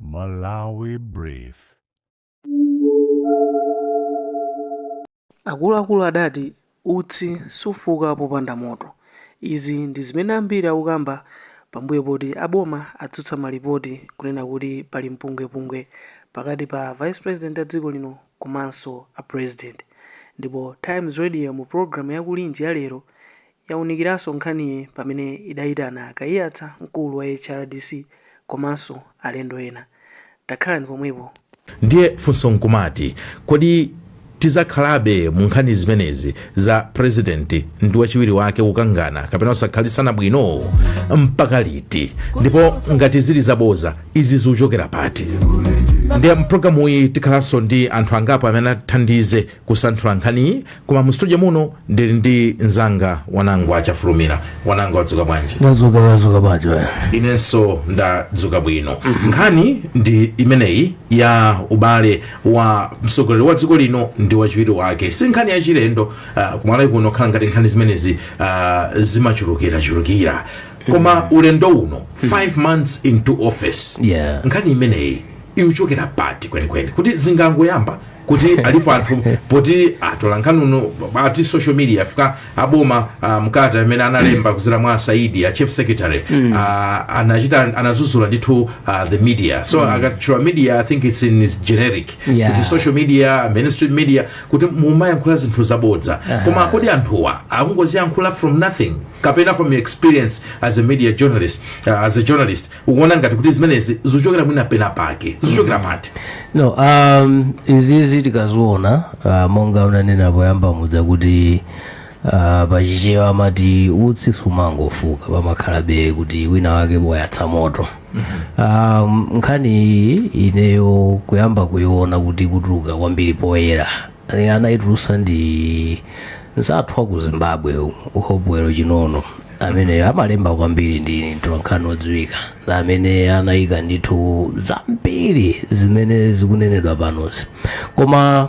Malawi Brief. Akuluakulu adati utsi sufuka popanda moto. Izi ndi zimene ambiri akukamba pambuyo poti a boma atsutsa malipoti kunena kuti pali mpungwepungwe pakati pa Vice President a dziko lino komanso a President. Ndipo Times Radio mu pulogalamu ya Kulinji ya lero yawunikiranso nkhaniyi pamene idayitana a Kaiyatsa, mkulu wa HRDC komanso alendo ena. Takhalani pomwepo. Ndiye funso nkumati, kodi tidzakhalabe mu nkhani zimenezi za President ndi wachiwiri wake kukangana kapena kusakhalitsana bwino? Mpaka liti? Ndipo ngati zili zaboza, izi zikuchokera pati? Ndiye mu program iyi tikhalanso ndi anthu angapo amene atithandize kusanthula nkhaniyi koma mu studio muno ndili ndi mzanga Wanangwa Chafulumira Wanangwa wadzuka bwanji ndadzuka ndadzuka bwanji bwana inenso ndadzuka bwino nkhani ndi imeneyi ya ubale wa mtsogoleri wa dziko lino ndi wachiwiri wake si nkhani yachilendo uh, kumalawi kuno khala ngati nkhani zimenezi uh, zimachulukirachulukira koma ulendo uno 5 months into office Yeah. nkhani imeneyi ikuchokera pati kwenikweni kuti zingangoyamba kuti alipo anthu poti atolankhani uno ati social media afika aboma uh, mkalata amene analemba kudzera mwa a Saidi a chief secretary mm. uh, anachita anadzudzula ndithu uh, the media so mm. akatchula media i think it's in its generic Yeah. kuti social media mainstream media kuti mumayankhula zinthu zabodza uh-huh. koma kodi anthuwa akungoziyankhula from nothing kapena from your experience as a media journalist uh, as a journalist ukuona ngati kuti zimenezi zikuchokera mwina pena pake zikuchokera pati no um, izizi tikaziona uh, monga unanena poyamba muja kuti uh, pachichewa amati utsi sumangofuka pamakhalabe kuti wina wake wayatsa moto um, nkhani iyi ineyo kuyamba kuiona kuti kutuluka kwambiri poyera Eh, anaitulutsa ndi mnzathu wa ku zimbabwe Hopewell Chin'ono ameneyo amalemba kwambiri ndi mtolankhani odziwika na amene anayika ndithu zambiri zimene zikunenedwa panozi koma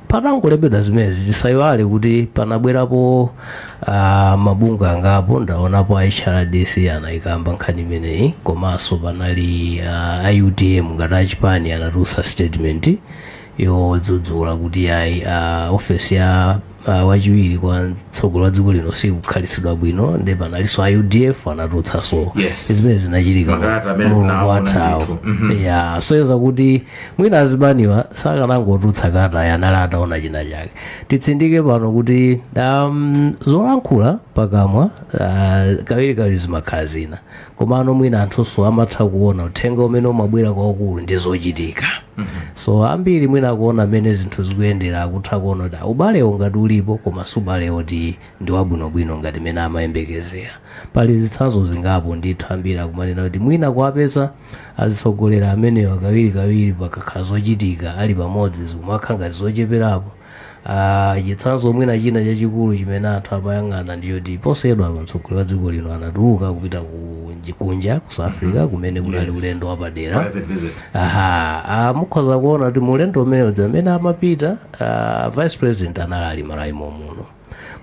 patangolembedwa zimenezi tisayiwale kuti panabwerapo uh, mabungwe angapo ndaonapo a hrdc anayikamba nkhani imeneyi komanso panali uh, a UTM ngati achipani anatulutsa statement yodzudzula kuti yayi a ofesi ya a wachiwiri kwa mtsogoleri wa dziko lino sikukhalitsidwa bwino nde panalinso a udf anatulutsanso Yes. zimene zinachitika Makalata amene mulungu tinaona wathawo ndithu. Mhm. ya zoyeza kuti mwina azipaniwa sakanangotulutsa kalata ayi anali ataona china chake titsindike pano kuti um, zolankhula pakamwa uh, kawiri kawiri zimakhala zina komano mwina anthunso amatha kuona uthenga umene umabwera kwakukulu ndi zochitika so ambiri mwina akuona mmene zinthu zikuyendera akutha kuona kuti ubalewo ngati ulipo koma si ubalewo woti ndi wabwinobwino ngati mmene amayembekezera pali zitsanzo zingapo ndithu ambiri akumanena kuti mwina kuwapeza azitsogolera amenewa kawirikawiri pakakhala zochitika ali pamodzi zikumakhala ngati zocheperapo Ah, chitsanzo mwina china chachikulu chimene anthu amayang'ana ndi choti posachedwa apa mtsogoleri wa dziko lino anatuluka kupita ku nji- kunja ku south africa kumene kunali Yes. ulendo wapadera Private visit. aha ah, mukhoza kuona kuti mu ulendo umenewu mmene amapita ah, vice president anali ali mMalawi mommuno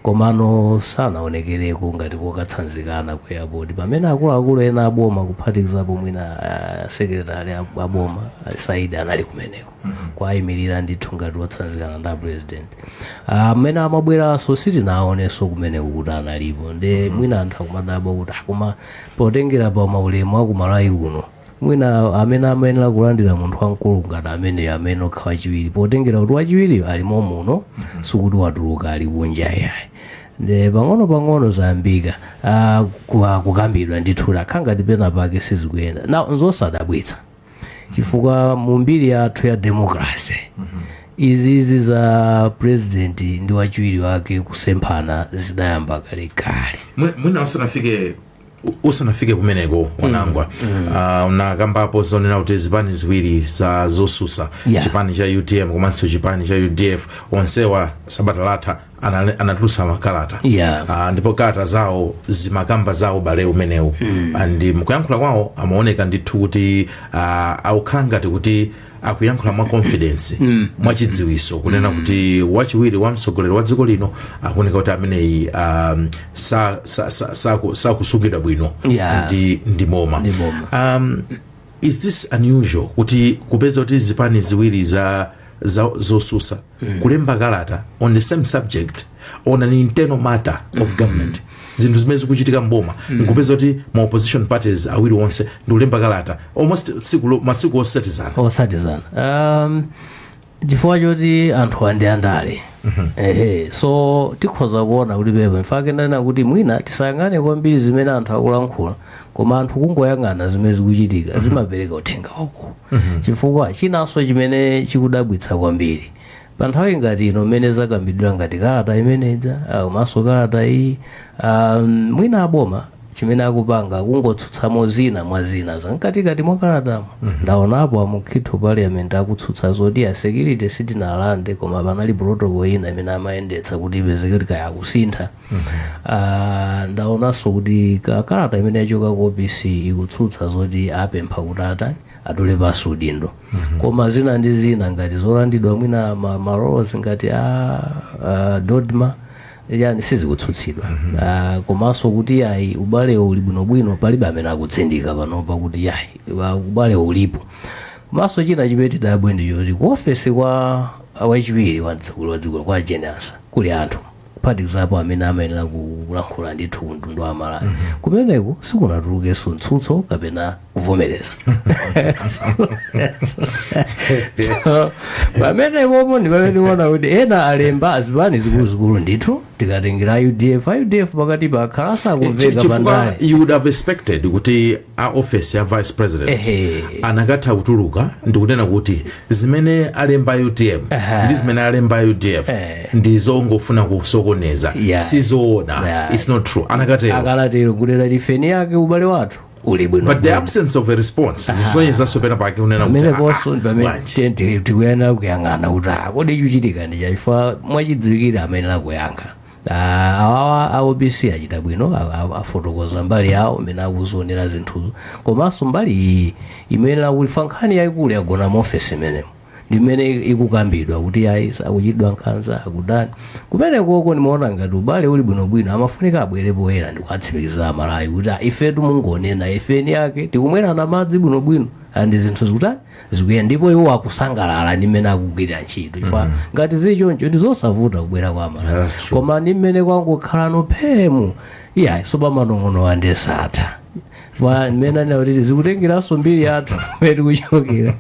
Komano sanaonekereko ngati kokatsanzikana ku airport pamene akuluakulu ena aboma kuphatikizapo mwina uh, sekretari ab- aboma uh, Saidi anali kumeneko kuwaimirira ndithu ngati wotsanzikana ndi apresident mmene amabweranso sitinaonenso kumeneko kuti analipo nde mwina anthu akumadabwa kuti "Ah, koma potengera pa maulemu aku Malawi kuno Mwina amene amayenera kulandira munthu wamkulu ngati ameneyo amayenera kukhala wachiwiri potengera kuti wachiwiriyo ali mommuno sikuti watuluka ali kunja yayi nde pang'ono pang'ono zayambika ah, ku- ah, kukambidwa ndithu yakhala ngati pena pake sizikuyenda nde nzosadabwitsa chifukwa mu mbiri yathu ya demokrasi izizi za president ndi wachiwiri wake kusemphana zidayamba kalekale Mwi- mwina usanafike U- usanafike kumeneko Wanangwa Ah, unakambapo zonena kuti zipani ziwiri za zosusa Yeah. chipani cha utm komanso chipani cha udf onsewa sabata latha anale- anatulutsa makalata Yeah. Ah, ndipo kalata zawo zimakamba za ubale umenewu and mkuyankhula kwawo amaoneka ndithu kuti ah, akukhala ngati kuti akuyankhula mwa confidence mm. mwa chidziwiso kunena kuti wachiwiri wa mtsogoleri wa dziko lino akuoneka kuti ameneyi um, sakusungidwa sa, sa, sa, sakusungidwa bwino Yeah. ndi, ndi boma Ndi boma. um, is this unusual kuti kupeza kuti zipani ziwiri za, za zosusa kulemba kalata on the same subject on an internal matter of government zinthu zimene zikuchitika mboma nkupeza kuti ma opposition parties awiri onse ndikulemba kalata almost tsiku lo- masiku otsatizana otsatizana um, chifukwa choti anthuwa ndi andale ehe so tikhoza kuona kuti pepa in fact ndanena kuti mwina tisayang'ane kwambiri zimene anthu akulankhula koma anthu kungoyang'ana zimene zikuchitika zimapereka uthenga waukulu chifukwa chinanso chimene chikudabwitsa kwambiri pa nthawi ngati ino mmene zakambidwa ngati kalata imene ija ah, komanso kalata iyi ah, mwina aboma chimene akupanga kungotsutsamo zina mwa zina zamkatikati mwa kalatamo ndaonapo a Mukhito parliament akutsutsa zoti ya security sitinalande koma panali protocol ina imene amayendetsa kuti ipezeke kuti kaya akusintha Ah, ndaonanso kuti ka- kalata imene yachoka ku opc ikutsutsa zoti apempha kuti atani atule pansi udindo koma zina ndi zina ngati zolandidwa mwina ma- maroles ngati a, a dodma yayi sizikutsutsidwa Ah, komanso kuti yayi ubalewo uli bwinobwino palibe amene akutsindika panopa kuti yayi wa- ubalewo ulipo komanso china chimene tidabwe ndi choti ku ofesi kwa wachiwiri wa mtsogoleri wa dziko kwa jane ansah kuli anthu kuphatikizapo amene amayenera kulankhula ndithu ku mtundu wa malawi kumeneko sikunatulukenso mtsutso kapena kuvomereza So, pamenepopo ndi pamene tiona kuti ena alemba a zipani zikuluzikulu ndithu tikatengera a udf a udf pakatipa akhala asakumveka chifukwa pandale you would have expected kuti a ofesi ya vice president Ehe. anakatha kutuluka ndikunena kuti zimene alemba utm Aha. ndi zimene alemba udf Eh. ndi zongofuna kusokoneza Yeah. sizoona Yeah. its not true anakatero anakatero kunena kuti ife eni ake ubale wathu uli bwino but the bwino. absence of a response zikusonyezanso penapake kunena kuti, pamene ah, konso ah, pamene bwanji. te- te- tikuyenera kuyang'ana kuti ah, kodi chikuchitika ndi chani chifukwa mwachidziwikire amene akuyankha Ah, awawa a opc achita bwino a- a- afotokoza mbali yawo mmene akuzionera zinthuzo komanso mbali iyi imene akulifa nkhani yayikulu yagona mu ofesi imenemo ndi imene ikukambidwa kuti a vice akuchitidwa nkhanza akutani kumenekoko ndimaona ngati ubale uli bwinobwino amafunika abwere poyera ndikuatsimikizira amalawi kuti ah, ifetu mungonena ife eni ake tikumwerana madzi bwinobwino and zinthu zikutani zikuyenda ndipo iwo akusangalala ndi mmene akugwirira ntchito chifukwa ngati zili choncho ndi zosavuta kubwera kwa amalawi That's true. koma ndi mmene kwangokhalano pheemu iyayi so pa manong'onong'owa nde satha chifukwa mmene anena kuti zikutengeranso mbiri yathu mmene tikuchokera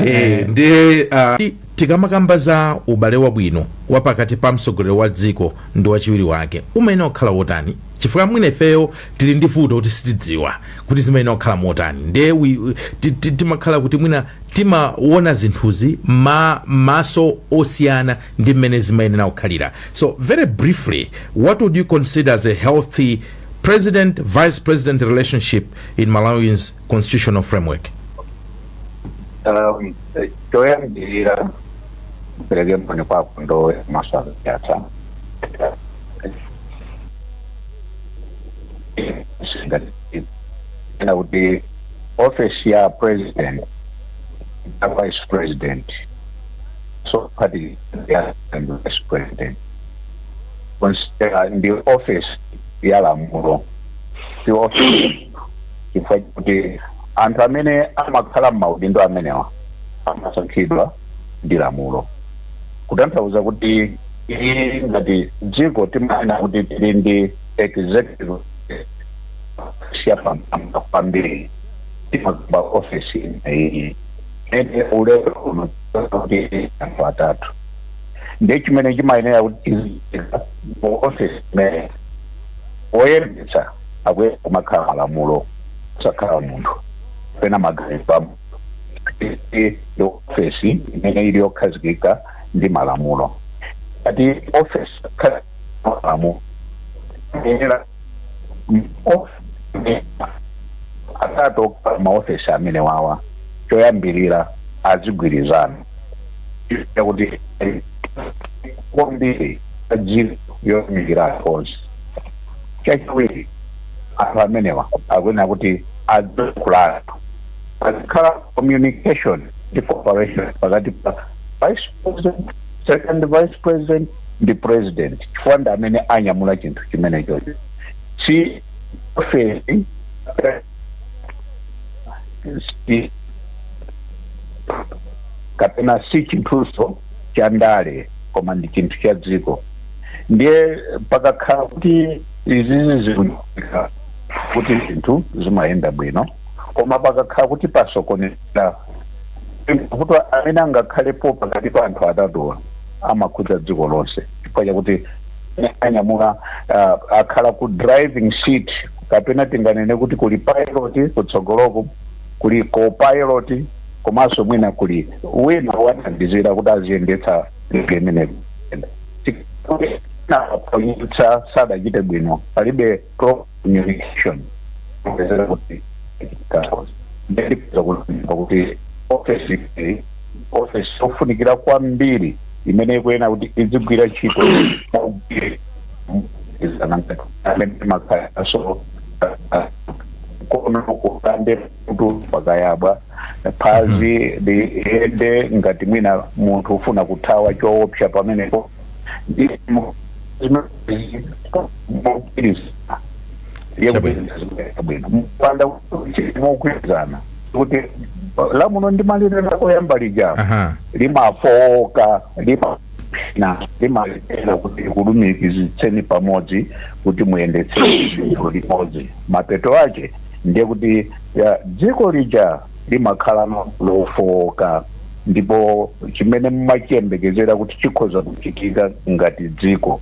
Eh, ndi ah, ti- tikamakamba za ubale wabwino wa pakati pa mtsogoleri wa dziko ndi wachiwiri wake umayenera kukhala wotani chifukwa mwina ifeyo tili ndi vuto kuti sitidziwa kuti zimayenera kukhala motani nde wi- wi- ti- ti- timakhala kuti mwina timaona zinthuzi m'maso osiyana ndi mmene zimayenera kukhalira so very briefly what would you consider as a healthy president vice president relationship in malawi's constitutional framework um, eh, choyambirira mpereke moni kwako ndo maswala yatha ena kuti ofesi ya president na vice president so party ya and vice president konsera ndi office ya lamulo si office chifukwa kuti anthu amene amakhala m'maudindo amenewa amasankhidwa ndi lamulo kutanthauza kuti ife ngati dziko timaona kuti tili ndi executive yapamwamba kwambiri tikamakamba ofesi imeneyi ende lero lino kuti anthu atatu ndi chimene chimayenera kuti tiziika mu ofesi imeneyi oyendetsa akuyenera kumakhala malamulo asakhale munthu pena maganizo a munthu ndi ofesi imene ili yokhazikika ndi malamulo ngati ofesi khala malamulo ayenera atatu maofesi amene wawa choyambirira azigwirizana kuti agwire ntchito yotumikira anthu onse chachiwiri anthu amenewa akuyenera kuti azikhululukirana pazikhala communication ndi cooperation pakati pa vice president second vice president ndi president chifukwa ndi amene anyamula chinthu chimenechocho si ofesi kapena si chinthuso cha ndale koma ndi chinthu cha dziko ndiye pakakhala kuti izizi zikuchitika ndiye kuti zinthu zimayenda bwino koma pakakhala kuti pasokonekera mavuto amene angakhalepo pakati pa anthu atatuwa amakhudza dziko lonse chifukwa chakuti anyamula uh, akhala ku driving seat kapena tinganene kuti kuli pilot kutsogoloko kuli copilot komanso mwina kuli wina wothandizira kuti aziyendetsa ndege imeneyo tikaphonyetsa sadachite bwino palibe communication kupezeka kuti chaos ndikupeza kulumba kuti ofesi iyi ofesi yofunikira kwambiri imene ikuyenera kuti izigwira ntchito mogwiri- izana ngati amene kukayabwa nkono ukande kuti pakayabwa phazi liyende ngati mwina munthu ufuna kuthawa choopsa pamenepo mogwirizana kuti lamulo ndi malire lako loyamba lija aha limafowoka limana limalephera kuti likulumikizitseni pamodzi kuti muyendetse zinthu limodzi mapeto ake ndiye kuti ya, dziko lija limakhala lofooka ndipo chimene mumachiyembekezera kuti chikhoza kuchitika ngati dziko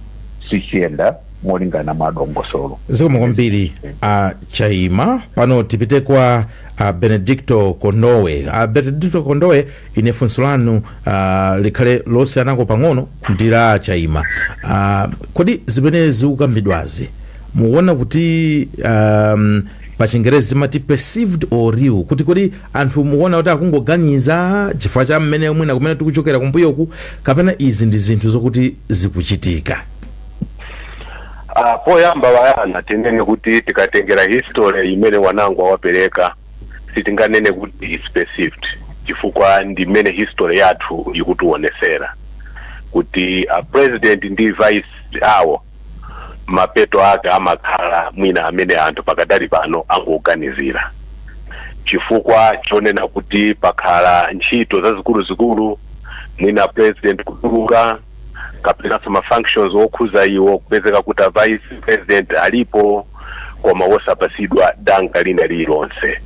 sichiyenda molingana ndi mwa dongosolo. Zikomo kwambiri a Chaima. Pano tipite kwa a Benedicto Kondowe. A Benedicto Kondowe, ine funso lanu ah, likhale losiyanako pang'ono ndi la a Chaima. Ah, kodi zimene zikukambidwazi mukuona kuti um, pachingerezi zimati perceived or real kuti kodi anthu mukuona kuti akungoganiza chifukwa cha mmene mwina kumene tikuchokera kumbuyoku kapena izi ndi zinthu zokuti zikuchitika Ah, poyamba a Bayana tinene kuti tikatengera history imene anzangawa apereka sitinganene kuti is perceived chifukwa ndi mmene history yathu ikutiwonesera kuti a president ndi vice awo mapeto ake amakhala mwina amene anthu pakadali pano angoganizira chifukwa chonena kuti pakhala ntchito zazikuluzikulu mwina president kutuluka kapenanso ma functions okhuza iwo kupezeka kuti a vice president alipo koma wosapatsidwa danga lina lililonse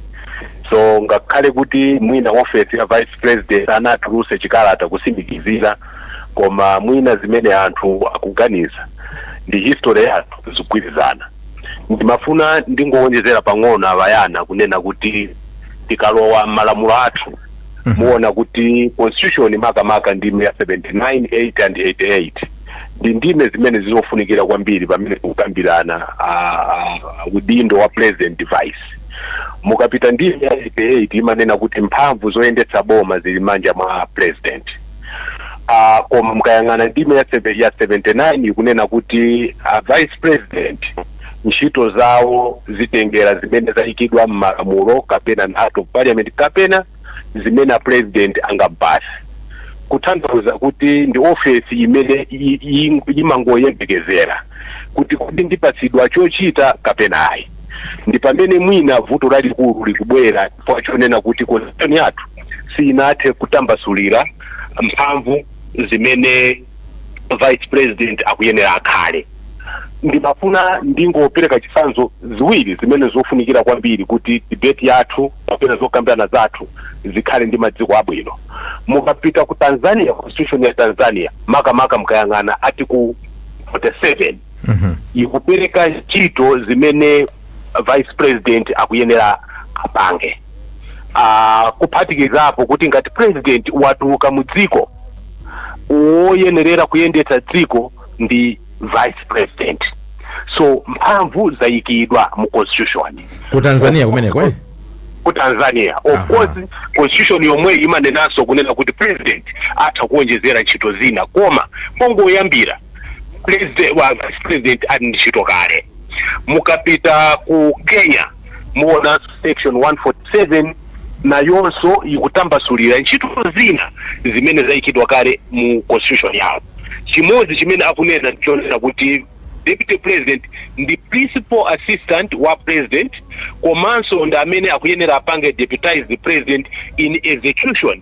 so ngakhale kuti mwina ofesi ya vice president anatulutsa chikalata kutsimikizira koma mwina zimene anthu akuganiza ndi history yathu zikugwirizana ndimafuna ndingowonjezera pang'ono a Bayana kunena kuti tikalowa m'malamulo athu muona kuti constitution makamaka ndime ya 79 and 88 ndi ndime zimene zizofunikira kwambiri pamene tikukambirana ah, ah, udindo wa president vice mukapita ndime ya 88 imanena kuti mphamvu zoyendetsa boma zili m'manja mwa president a koma mukayang'ana ndime ya 7 ya 79 ikunena kuti a vice president ntchito zawo zitengera zimene zayikidwa m'malamulo kapena na act of parliament kapena zimene a president angawapatse kutanthauza kuti ndi ofesi imene i- i- imangoyembekezera kuti kodi ndipatsidwa chochita kapena ayi ndi pamene mwina vuto lalikulu likubwera chifukwa chonena kuti constitution yathu siyinathe kutambasulira mphamvu zimene vice president akuyenera akhale ndimafuna ndingopereka zitsanzo ziwiri zimene zofunikira kwambiri kuti debate yathu kapena zokambirana zathu zikhale ndi maziko abwino mukapita ku tanzania constitution ya tanzania makamaka mukayang'ana article 47 ikupereka ntchito zimene vice president akuyenera apange kuphatikizapo kuti ngati president watuluka mu dziko woyenerera kuyendetsa dziko ndi vice president so mphamvu zayikidwa mu constitution ku tanzania kumeneko eh? ku tanzania of course constitution yomweyi imanenanso kunena kuti president atha kuonjezera ntchito zina koma pongoyambira president wa vice president ali ndi ntchito kale mukapita ku kenya muonanso section 147 nayonso ikutambasulira ntchito zina zimene zayikidwa kale mu constitution yawo chimodzi chimene akunena ndichonena kuti deputy president ndi principal assistant wa president komanso ndi amene akuyenera apange deputize the president in execution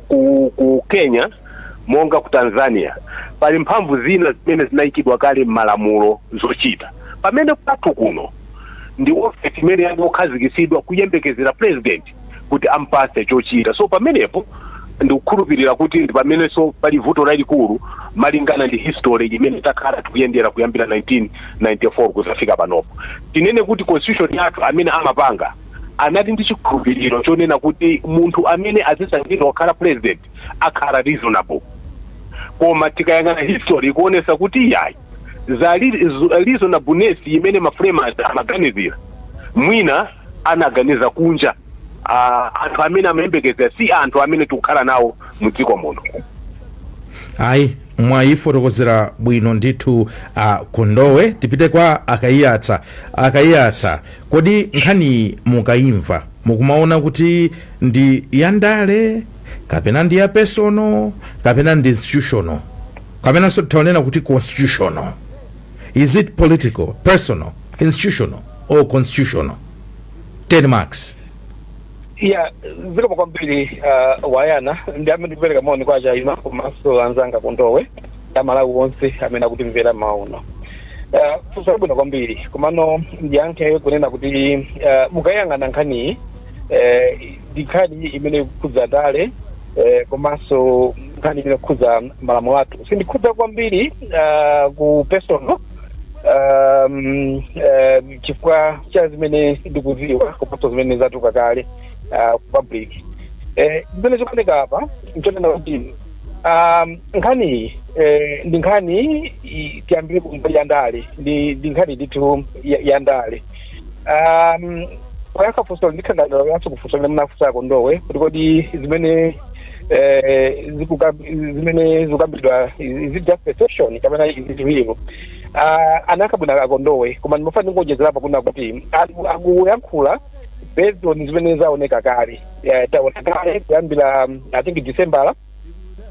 ku, ku kenya monga ku tanzania pali mphamvu zina zimene zinayikidwa kale m'malamulo zochita pamene kwathu kuno ndi ofesi imene yangokhazikisidwa kuyembekezera president kuti ampase chochita so pamenepo ndikukhulupirira kuti ndi pamenenso pali vuto lalikulu malingana ndi history imene takhala tikuyendera kuyambira 1994 kuzafika panopo tinene kuti constitution yathu amene amapanga anali ndi chikhulupiriro chonena kuti munthu amene azisankhidwa kukhala president akhala reasonable koma tikayang'ana history ikuonesa kuti yayi za reasonableness imene maframers amaganizira mwina anaganiza kunja ah, anthu amene amayembekezera si anthu amene tikukhala nawo mu dziko muno ayi mwayifotokozera bwino ndithu a kondowe tipite kwa a kaiyatsa a kaiyatsa Kodi nkhaniyi mukaimva mukumaona kuti ndi ya ndale kapena ndi ya personal kapena ndi institutional kapenanso titha kunena kuti constitutional is it political personal institutional or constitutional 10 marks ya zikomo kwambiri uh, a yona ndiyambe ndi kupereka moni kwa a chaima komanso anzanga a kondowe ndi amalawi onse amene akutimvera mmawa uno uh, funso labwino kwambiri komano ndiyankhe kunena kuti uh, mukayang'ana nkhaniyi eh, ndi nkhani imene ikukhudza ndale eh, komanso nkhani imene ikukhudza malamulo athu sindikhudza kwambiri uh, ku personal um, eh, chifukwa cha zimene ndikuziwa komanso zimene zatuluka kale uh, ku public eh, zimene zikuoneka apa nchonena kuti Um, nkhani iyi eh, ndi nkhani i- tiyambire ku mbali ya ndale ndi ndi nkhani ndithu ya- ya ndale um, poyankha funso ndikhangalira kuyankha kufunso limene munafunsa a Kondowe kuti kodi zimene eh, zikukamb- zimene zikukambidwa is it just perception kapena is it real Ah, anayankha bwino a Kondowe koma ndimafuna ndingowonjezerapo kunena kuti anthu akuyankhula based on zimene zaoneka kale eh, taona kale kuyambira mm, i think December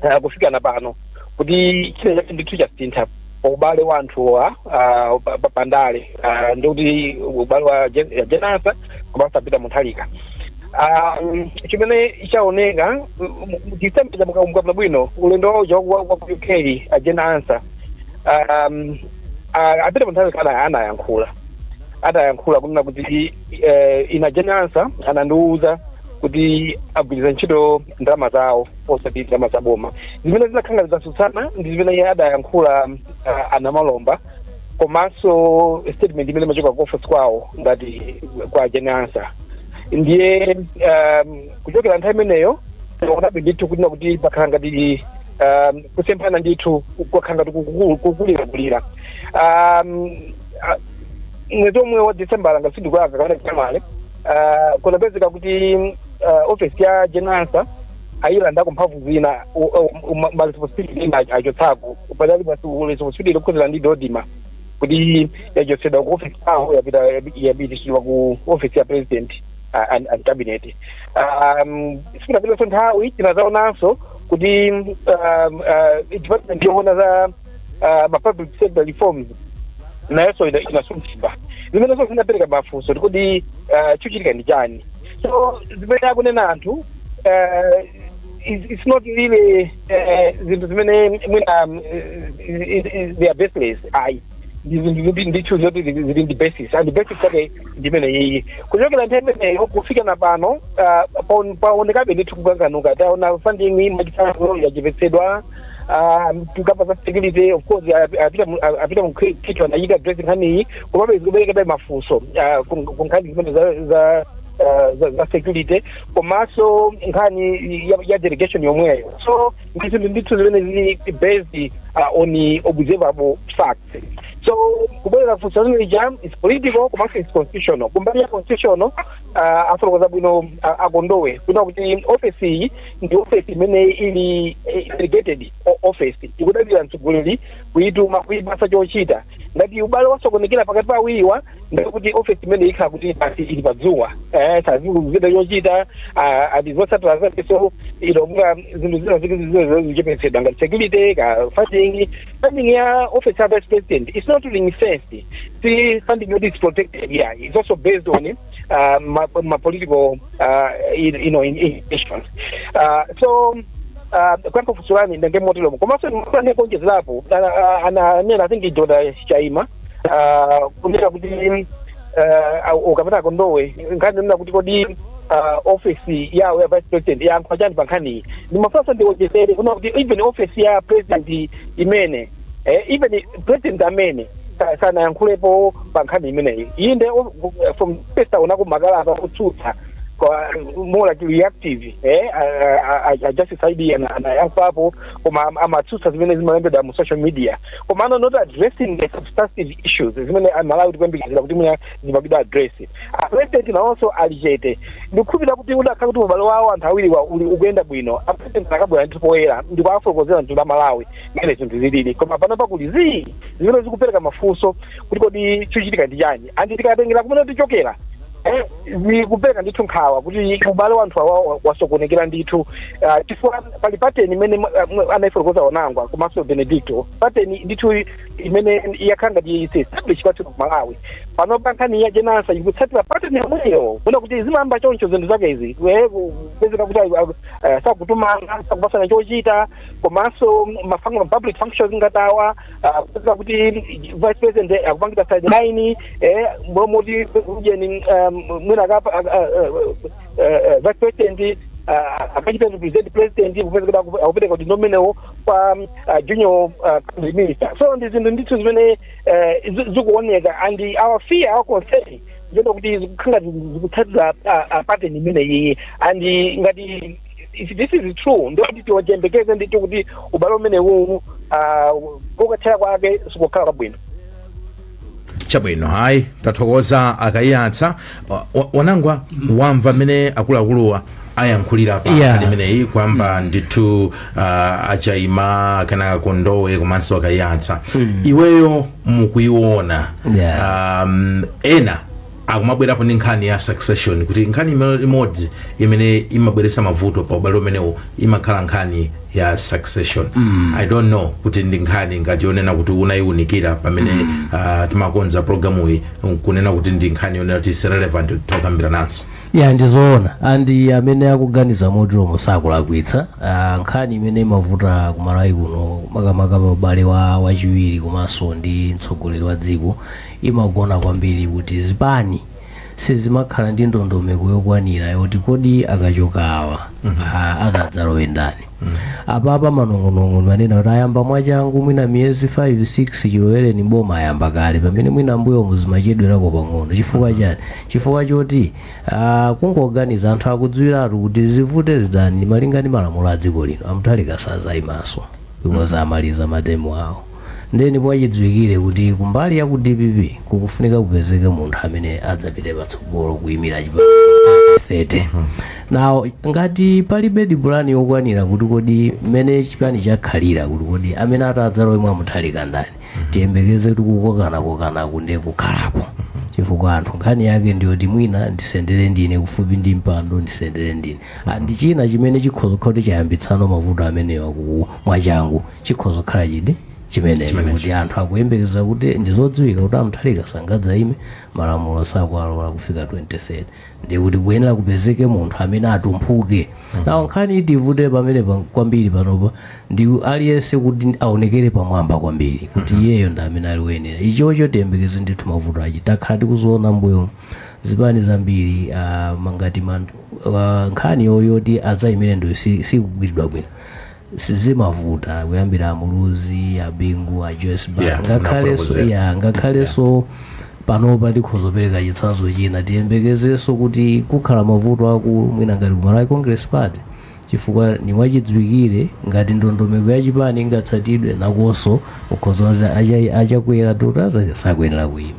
eh, kufika na pano kuti china chake ndithu chasintha pa ubale wa anthuwa ah, pa- pa- pandale ah, ndikuti ubale wa Jen- a Jane Ansah komanso a Peter Mutharika Ah, mm, chimene chaoneka December mukakumbuka bwino ulendo wawo cha wa- wa ku UK a Jane Ansah um, a Peter Mutharika ana- anayankhula anayankhula kunena kuti eh, ine a Jane Ansah anandiwuza kuti agwiritsa ntchito ndalama zawo osati ndalama za boma zimene zinakhala ngati zatsutsana ndi zimene iye adayankhula uh, a Namalomba komanso statement imene imachoka ku office kwawo ngati kwa a Jane Ansah ndiye um, kuchokera nthawi imeneyo tikuonabe ndithu kunena kuti pakhala ngati um, kusemphana ndithu kwakhala ngati kukulirakulira um, ah, mwezi omwe wa december ngati sindikulakwa kapena january ah, kunapezeka kuti ah, office ya Jane Ansah ayilandako mphamvu zina maresponsibility ena achotsako padali responsibility yokhudzana ndi DoDMA kuti yachotsedwa ku office yawo yapita yapititsidwa ku office ya president ah, and, and cabinet um, sikunapitanso nthawi tinadzaonanso kuti um, uh, department yoona za ah, ma public sector reforms nayonso ina- inasunthidwa zimenezo zinapereka mafunso kuti kodi ah, chochitika ndi chani so zimene akunena anthu ah, it's it's not really eh, zinthu zimene mwina mm, eh, eh, they are baseless ayi ndi zinthu zoti ndithu zoti zili zili ndi basis and basis yake ndi imene iyi kuchokera nthawi imeneyo kufika na pano ah, paon- paonekabe ndithu kukanganuka taona funding mwachitsanzo yachepetsedwa ah, tikakamba za security of course ah, a Peter Mu- ah, a Peter Mukhito anayika address nkhani iyi komabe zikuberekabe mafunso ah, ku ku nkhani zimene za za ah, za- za security komanso nkhani ya- ya delegation yomweyo so ndi zinthu ndithu zimene zili based ah, on observable facts so kubwera funso lanu lija is political komanso is constitutional kumbali ya constitutional ah, afotokoza bwino ah, a Kondowe kunena kuti ofesi iyi ndi office imene ili eh, delegated o- office ikudalira mtsogoleri kuituma kuipasa chochita ngati ubale wasokonekera pakati pa awiriwa ndiye kuti office imene ikhala kuti basi ili padzuwa eh, sazikuzida chochita ah, and zotsatira zake so no wonder zinthu zina zikizizina zichepetsedwa ngati security ka funding funding ya office ya vice president it's not ring fenced si funding yoti is protected yeah it's also based on uh, ma, ma political uh, you, you know in, intentions. Uh, so uh, kuyankha funso lanu ndenge motero komanso ndimafuna kuonjezerapo ananena i think George Chaima uh, kunena kuti uh, kapena Kondowe nkhani nena kuti kodi uh, office yawo ya vice president yayankhapo chani pa nkhaniyi ndimafunanso ndiwonjezere kunena kuti even office ya president imene eh, even president amene sa- sanayankhulepo pa nkhani imeneyi inde o- eh, from first unaonako makalata otsutsa kwa- more like reactive eh, a- a- a- a justice id ana- anayankhapo koma am- amatsutsa zimene zimalembedwa mu social media komano not addressing the substantive issues zimene amalawi tikuyembekezera kuti mwina zimapangidwa address apresident nawonso ali chete ndikukhulupirira kuti udakhala kuti ubale wawo anthu awiriwa uli ukuyenda bwino apresident akanabwera ndithu poyera ndikuwafotokozera mtundu wa malawi mmene zinthu zilili koma panopa kuli zii zimene zikupereka mafunso kuti kodi chikuchitika ndi chani andi tikatengera kumene tikuchokera eh, zikupereka ndithu nkhawa kuti ubale wa anthu awa wa- wasokonekera ndithu Ah, chifukwa pali pateni imene mwa- mwa- anaifotokoza a Wonangwa komanso benedicto pateni ndithu imene yakhala ngati established kwathu ku malawi panopa nkhani ya Jane Ansah ikutsatira pateni yomweyo kuona kuti zimayamba choncho zinthu zake izi Eh, kupezeka kuti ah, ah, sakutumana sakupasana chochita komanso ma function- ma public functions ngati awa ah, kupezeka kuti vice president akuwapangira sideline eh, momoti ujeni ah, mwina akapa ah, ah, ah, ah, vice president ah, akachite represent president kupezeka kuti aku- akupereka udindo umenewo kwa mm, ah, junior ah, cabinet minister so ndi zinthu ndithu zimene eh, zi- zikuoneka and our fear our concern ndi yoti zikukhala ngati zikutsatira ah, ah, pattern imene iyiyi and ngati if this is true ndikuti tiyembekeze ndithu kuti ubale umenewu ah, kokathera kwake sikukhala kwabwino chabwino hayi tathokoza a Kaiyatsa Wa- wa- wanangwa wamva mmene akuluakuluwa ayankhulira pa Yeah. nkhani imeneyi kuyamba ndithu uh, a Chaima kenaka a Kondowe komanso a Kaiyatsa inuyo mukuiona Yeah. um, ena akumabwerapo ndi nkhani ya succession kuti nkhani ime- imodzi imene imabweretsa mavuto pa ubale umenewo imakhala nkhani ya succession i don't know kuti ndi nkhani ngati yonena kuti unayiunikira pamene ah, timakonza programuyi kunena kuti ndi nkhani yonena kuti is relevant tokambirananso ya ndizoona and amene akuganiza moteromo sakulakwitsa Ah, nkhani imene imavuta kumalawi kuno makamaka pa ubale wa wachiwiri komanso ndi mtsogoleri wa dziko imagona kwambiri kuti zipani sizimakhala ndi ndondomeko yokwanira yoti kodi akachoka awa a- akadzalowe ndani apapa manong'onong'o manena kuti ayamba mwachangu mwina miyezi 5 6 chilowereni boma ayamba kale pamene mwina mbuyomu zimachedwerako pang'ono chifukwa chani chifukwa choti ah, kungoganiza anthu akudziwiratu kuti zivute zitani malinga ndi malamulo a dziko lino a Mutharika sadzayimanso because amaliza matemu awo Ndiye ndi mwachidziwikire kuti kumbali ya ku dpp kukufunika kupezeke munthu amene adzapite patsogolo kuyimira chipani 30. Now ngati palibedi pulani yokwanira kuti kodi mmene chipani chakhalira kuti kodi amene atadzalowe mwa Mutharika ndani tiyembekeze kuti kukokanakokanaku ndiye kukhalapo chifukwa anthu nkhani yake ndiyoti mwina ndisendere ndine kufupi ndi mpando ndisendere ndine Ah, ndi china chimene chikhoza kuti chayambitsano mavuto amenewa mwachangu chikhoza kukhala chiti chimenecho Chimenecho. kuti anthu akuyembekeza kuti ndizodziwika kuti a Mutharika sangadzaime malamulo sakuwalola kufika 2030 ndi kuti kuyenera kupezeke munthu amene atumphuke now nkhani itivute pamene pa- kwambiri panopa ndi aliyense kuti aonekere pamwamba kwambiri kuti iyeyo ndi amene ali woyenera ichocho tiyembekeze ndithu mavuto achi takhala tikuziona mbuyo zipani zambiri ah, mangati man- ah, nkhani yoti adzaimire ndaniyo si- sikugwiridwa bwino sizimavuta kuyambira amuluzi abingu a joyce Banda. Yeah, ngakhalenso nafotokozera. ya ngakhalenso panopa tikhoza kupereka chitsanzo china tiyembekezenso kuti kukhala mavuto akulu mwina ngati ku malawi congress party chifukwa ni mwachidziwikire ngati ndondomeko ya chipani ingatsatidwe nakonso ukhoza kuti acha- achakwera 2030 sakuyenera kuyima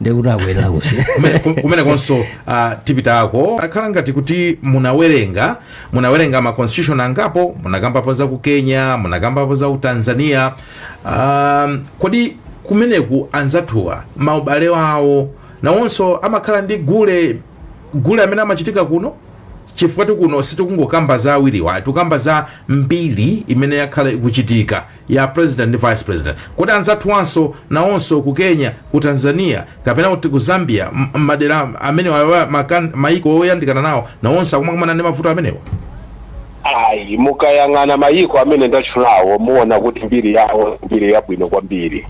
ndekuti akuyenera kusiya Kumene- kum- kumenekonso uh, tipitako akhala ngati kuti munawerenga munawerenga ma constitution angapo munakambapo za ku kenya munakambapo za ku tanzania um, kodi kumeneku anzathuwa maubale awo nawonso amakhala ndi gule gule amene amachitika kuno chifukwatu kuno sitikungokamba za awiriwa tikukamba za mbiri imene yakhala ikuchitika ya president ndi vice president kodi anzathuwanso nawonso ku kenya ku tanzania kapena kuti ku zambia m- m- madera amene wawa- makan- maiko oyandikana nawo nawonso akumakumana ndi mavuto amenewa ayi mukayang'ana mayiko amene ndatchulawo muona kuti mbiri yawo ndi mbiri yabwino kwambiri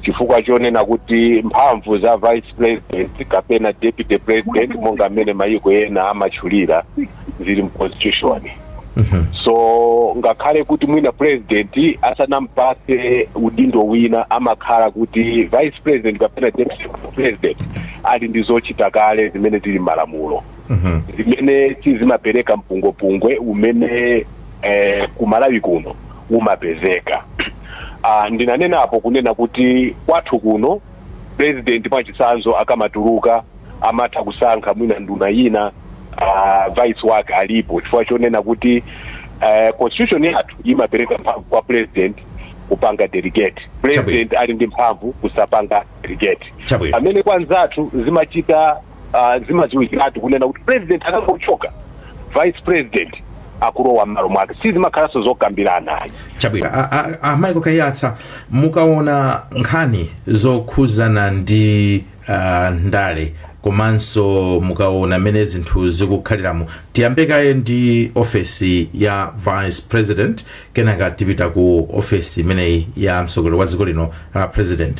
chifukwa chonena kuti mphamvu za vice president kapena deputy president monga amene mayiko ena amatchulira zili mu constitution so ngakhale kuti mwina president asanampase udindo wina amakhala kuti vice president kapena deputy president ali ndi zochita kale zimene zili mmalamulo zimene sizimapereka mpungwepungwe umene eh, kumalawi kuno umapezeka ah, ndinanenapo kunena kuti kwathu kuno president mwachitsanzo akamatuluka amatha kusankha mwina nduna yina uh, vice wake alipo chifukwa chonena kuti uh, constitution yathu imapereka mphamvu kwa president kupanga delegate president ali ndi mphamvu kusapanga delegate Chabwino. pamene kwa anzathu zimachita uh, zimadziwikiratu kunena kuti president akangochoka vice president akulowa mmalo mwake sizimakhalanso zokambirana ayi chabwino A- a- a- michael kaiyatsa mukaona nkhani zokhuzana ndi uh, ndale komanso mukaona mmene zinthu zikukhaliramo tiyambe kaye ndi ofesi ya vice president kenaka tipita ku ofesi imeneyi ya mtsogoleri wa dziko lino ya president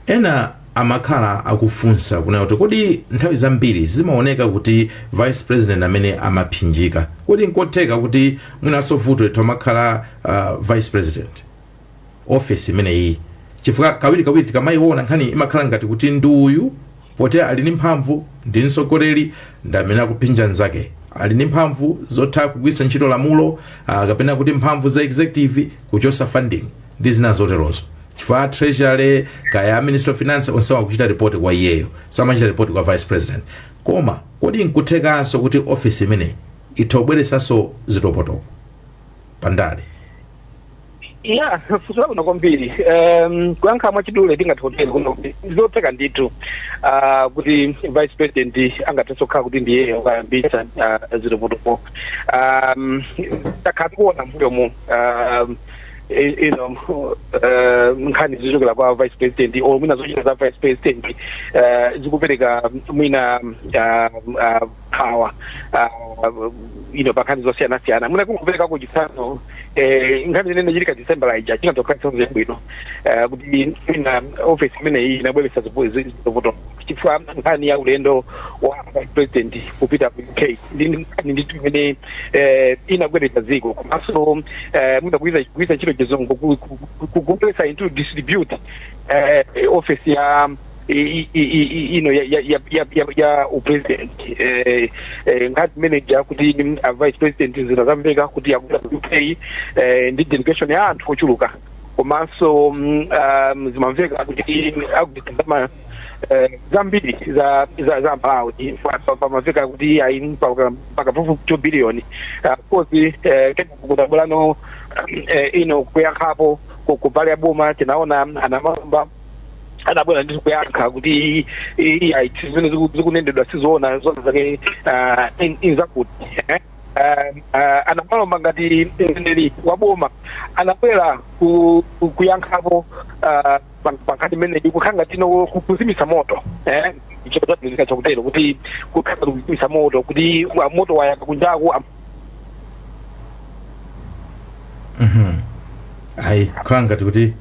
ena amakhala akufunsa kunena kuti kodi nthawi zambiri zimaoneka kuti vice president ndi amene amaphinjika kodi nkotheka kuti mwinanso vuto nditu amakhala uh, vice president ofesi imeneyi chifukwa kawirikawiri tikamayiona nkhani imakhala ngati kuti ndi uyu poti ali ndi mphamvu ndi mtsogoleri ndi amene akuphinja nzake ali ndi mphamvu zotha kugwiritsa ntchito lamulo ah, kapena kuti mphamvu za executive kuchosa funding ndi zina zoterozo chifukwa treasury kaya minister of finance onse akuchita report kwa iyeyo samachita report kwa vice president koma kodi nkothekanso kuti office imeneyi itha kubweresanso zitopotopo pandale ya funso labwino kwambiri um, kuyankha mwachidule tingathe kutero kunena kuti ndizotheka ndithu uh, kuti vice president angathenso kukhala kuti ndiye akuyambitsa uh, zitopotopo um, takhala tikuona mbuyomu um, i- you know, uh, nkhani zochokera kwa vice president or mwina zochita za vice president uh, zikupereka mwina uh, uh, nkhawa uh, you know, pankhani zosiyanasiyana mwina kungopereka ku chitsanzo eh, nkhani zimene zinachitika december ija chingathe kukhala chitsanzo chabwino eh, kuti mwina ofesi imeneyi inabweretsa zipu- zi- zipwirikiti chifukwa nkhani ya ulendo wa vice president kupita ku uk ndi nkhani ndithu imene eh, inagwedeza dziko komanso eh, mwina kugwiritsa kugwiritsa ntchito chizungu ku- ku- ku- kubweretsa into disrepute eh, ofesi ya i- i- i- i- ino ya, ya, ya, ya, ya, ya upresident eh, eh, ngati mmene muja kuti mm, a vice president zinadzamveka kuti akupita ku uk eh, ndi delegation ya anthu ochuluka komanso mm, um, zimamveka kuti akupita ndalama eh, zambiri za za za Malawi pamamveka kuti ayi mpaka mpaka pafupi 2 billion Ah, of course eh, kenaka kutapulano eh, ino kuyankhapo ku- kumbali ya boma tinaona a Namalomba anabwera ndi kuyankha kuti i- i- iya ichi zimene ziku- zikunenedwa sizoona zona zake ah, in- ndi zakuti eh? Ah, ah, a Namalomba ngati mneneri wa boma anabwera ku- ku- kuyankhapo ah, pa- pankhani imeneyi kukhala ngati ino ku- kuzimitsa moto eh? chosadziwika chakutero kuti kukhala kuzimitsa moto kuti wa- moto wayaka kunjaku am- hayi kukhala ngati kuti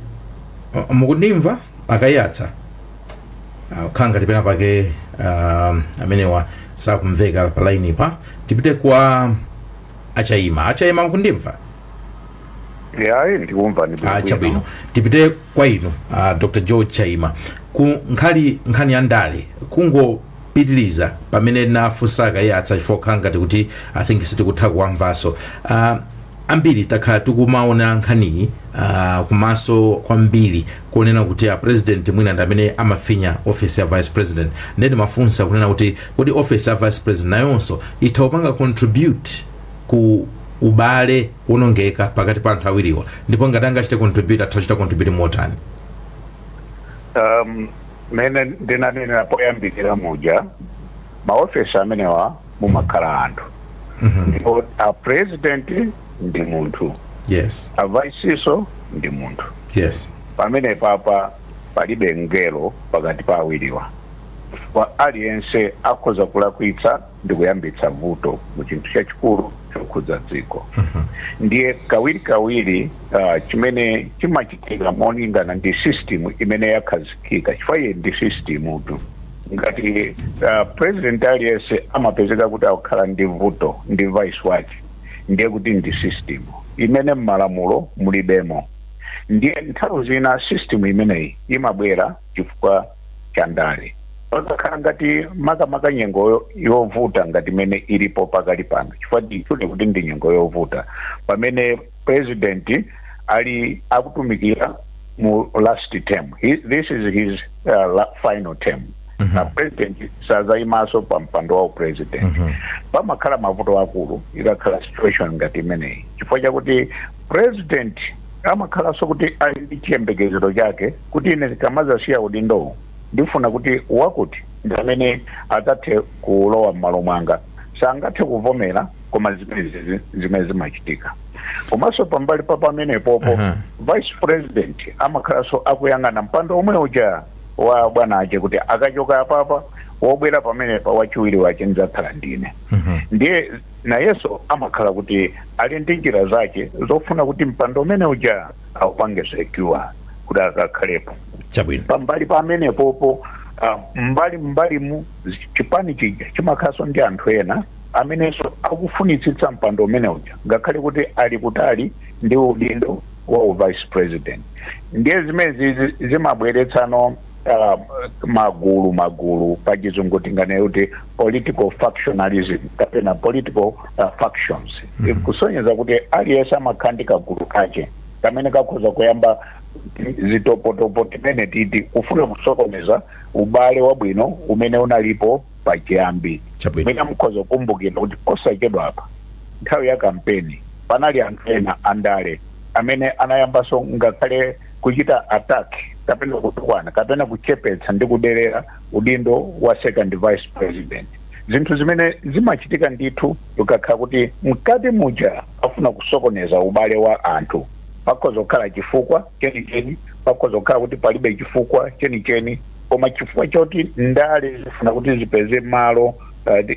uh, mukundimva a Kaiyatsa Ah, kukhala ngati pena pake um, amenewa sakumveka pa line pa tipite kwa a Chaima a Chaima mukundimva eya ndikumva ndi Ah, chabwino tipite kwa inu ah, dr george chaima ku nkhani nkhani ya ndale kungo pitiliza pamene ndinafunsa a Kaiyatsa chifukwa kukhala ngati kuti i think sitikutha kuwamvanso uh, ambiri takhala tikumaonera nkhaniyi uh, kumaso kwambiri kunena kuti a president mwina ndi amene amafinya office ya vice president nde ndimafunsa kunena kuti kodi office ya vice president nayonso itha kupanga contribute ku ubale wonongeka pakati pa anthu awiriwa ndipo ngati angachite contribute atha kuchita contribute motani um, Mmene ndinanenera poyambirira muja, maofesi amenewa mumakhala anthu ndipo a president ndi munthu, yes a vice nso ndi munthu. yes Pamenepapa palibe mngelo pakati pa awiriwa, chifukwa aliyense akhoza kulakwitsa ndi kuyambitsa vuto mu chinthu chachikulu chokhudza dziko ndiye kawirikawiri ah, chimene chimachitika n'molingana ndi system imene yakhazikika chifukwa iyi ndi system tu ngati ah, president aliyense amapezeka kuti akukhala ndi vuto ndi vice wake ndiye kuti ndi system imene m'malamulo mulibemo ndiye nthawi zina system imeneyi imabwera chifukwa cha ndale pakakhala ngati makamaka nyengo yo- yovuta ngati imene ilipo pakali pano chifukwa ndichonena kuti ndi nyengo yovuta pamene president ali akutumikira mu last term He, this is his uh, la, final term na president sazayimaso pa mpando wa upresident pamakhala mavuto akulu ikakhala situation ngati imeneyi chifukwa chakuti president amakhalanso kuti ali ndi chiyembekezero chake kuti ine ndikamadzasiya udindowu ndifuna kuti wakuti ndi amene adzathe kulowa m'malo mwanga sangathe kuvomera koma zimenezi zimene zimachitika komanso pambali pa pamenepopo Aha. vice president amakhalanso akuyang'ana mpando omwe uja wa bwana ache kuti akachoka apapa wobwera pamenepa wachiwiri wache ndidzakhala ndine ndiye Nayenso amakhala kuti ali ndi njira zache zofuna kuti mpando umene uja aupange secure kuti akakhalepo. Chabwino. Pambali pa pamenepopo ah, mbali mbalimu zi- chipani chija chimakhalanso ndi anthu ena amenenso akufunitsitsa mpando umene uja ngakhale kuti ali kutali ndi udindo wa u vice president ndiye zimenezi zi- zimabweretsano uh, magulu magulu pachizungu tinganene kuti political factionalism kapena political uh, factions mm -hmm. kusonyeza kuti aliyense amakhala ndi kagulu kache kamene kakhoza kuyamba zitopotopo timene titi kufuna kusokoneza ubale wabwino umene unalipo pachiyambi Chabwino. mwina mukhoza kukumbukira kuti posachedwa apa nthawi ya kampeni panali anthu ena andale amene anayambanso ngakhale kuchita attack kapena kutukwana kapena kuchepetsa ndi kuderera udindo wa second vice president zinthu zimene zimachitika ndithu ukakhala kuti mkati muja afuna kusokoneza ubale wa anthu pakhoza kukhala chifukwa chenicheni pakhoza kukhala kuti palibe chifukwa chenicheni koma chifukwa choti ndale zifuna kuti zipeze malo uh,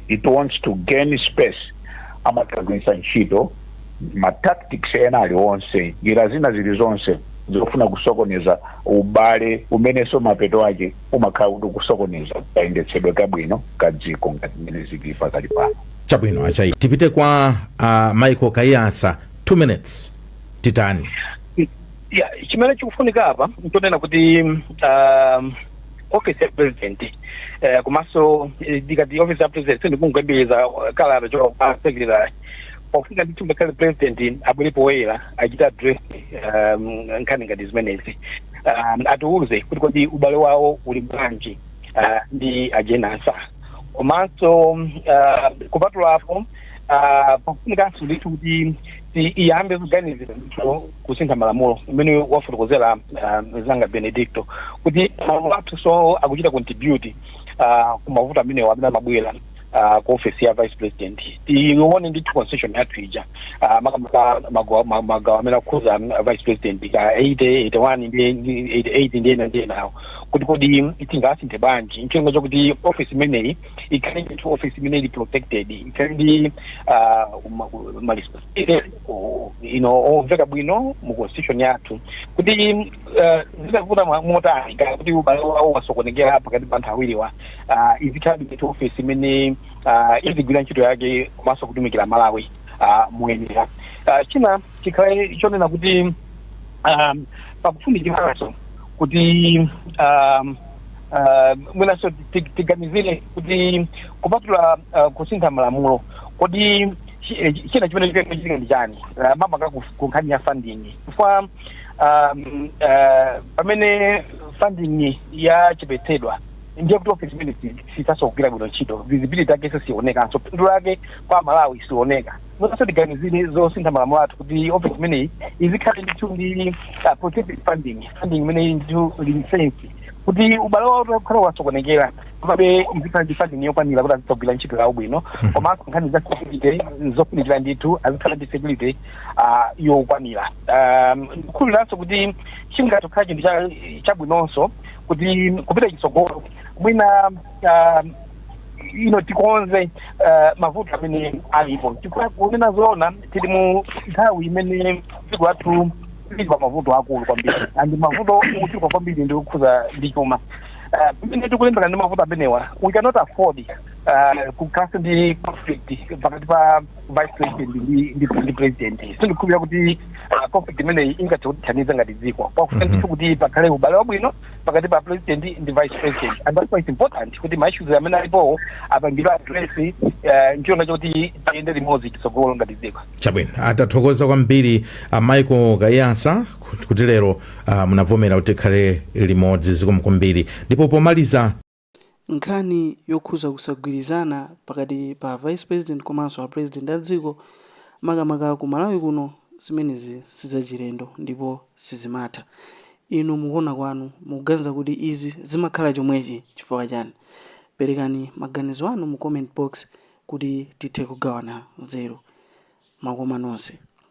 it wants to gain space amatha kugwiritsa ntchito ma tactics ena alionse njira zina zili zonse zofuna kusokoneza ubale umenenso mapeto ache umakhala kuti kusokoneza kayendetsedwe kabwino ka dziko ngati mmene zili pakali pano chabwino a Chaima tipite kwa uh, michael kaiyatsa 2 minutes titani ya chimene chikufunika apa nchonena kuti um, office ya president eh, komanso eh, ndikati office ya president sindikungobwereza kalata yochoka secretary pakufunika ndithu ngakhale president abwere poyera achite address um, nkhani ngati zimenezi um, atiuze kuti kodi ubale wawo uli bwanji uh, ndi a jane ansah komanso um, uh, kupatula apo uh, pofunikanso ndithu kuti ti- iyambe kuganizira ndithu kusintha malamulo mmene wafotokozera uh, mnzanga benedicto kuti malamulo athunso akuchita contribute uh, kumavuto amenewo amene amabwera uh, ku office ya vice president tione ndithu constitution yathu ija uh, makamaka magawo ma- magawo amene akukhuza mm, vice president ka 80 81 ndi ndi 88 ndi ena ndi enawo kuti kodi mm, tingasinthe bwanji ncholinga chakuti office imeneyi ikhale ndithu office imene ili protected ikhale ndi uh, ma- ma responsibility, uh, you know omveka bwino mu constitution yathu kuti mm, uh, zitavuta mwa- motani ka kuti ubale wawo wasokonekera pakati pa anthu awiriwa ah, izikhalabe ndi ofesi imene ah, izigwira ntchito yake komanso kutumikira amalawi ah, moyenera Ah, china chikhale chonena kuti um, pakufunikiranso kuti um, uh, mwinanso ti- tiganizire kuti kupatula uh, kusintha malamulo kodi chi- eh, china chimene chikuchitika ndi chani uh, makamaka kuf- ku nkhani ya funding chifukwa um, uh, pamene funding yachepetsedwa ndiye kuti ofesi imene sithanso kugwira bwino ntchito visibility yakenso sionekanso phindu lake kwa amalawi sioneka mwinanso tiganizire zosintha malamulo athu kuti ofesi imeneyi izikhale ndithu ndi ah, protected funding funding imeneyi ndithu lisensi kuti ubale wawo utakhala wasokonekera komabe izikhala ndi funding yokwanira kuti azitha kugwira ntchito yawo bwino komanso nkhani za security zofunikira ndithu azikhala ndi security ah, yokwanira Um, ndikukhulupiranso kuti chingatokhala chinthu cha- chabwinonso kuti kupita chitsogolo mwina ah, ino tikonze eh, mavuto amene alipo chifukwa kunena zoona tili mu nthawi imene dziko lathu lili pa mavuto aakulu kwambiri and mavuto ochuluka kwambiri ndi okhuza ndi chuma Eh, pamene tikulimbana ndi mavuto amenewa we cannot afford eh, kukhala ndi conflict pakati pa vice president ndi- ndi ndi president sindikukhulupirira kuti ah, conflict imeneyi ingathe kutithandiza ngati dziko pakufunika ndithu kuti pakhale ubale wabwino pakati pa president ndi vice president and that's why it's important kuti ma issues amene alipowo apangidwe address eh, ncholinga chakuti tiyende limodzi chitsogolo ngati dziko chabwino ah tathokoza kwambiri a michael kaiyatsa kuti lero ah, munavomera kuti tikhale limodzi zikomo kwambiri ndipo pomaliza Nkhani yokhuza kusagwirizana pakati pa a vice president komanso a president a dziko makamaka ku Malawi kuno zimenezi sizachilendo ndipo sizimatha. Inu mukuona kwanu mukuganiza kuti izi zimakhala chomwechi chifukwa chani? Perekani maganizo anu mu comment box kuti tithe kugawana nzeru. Makoma nonse.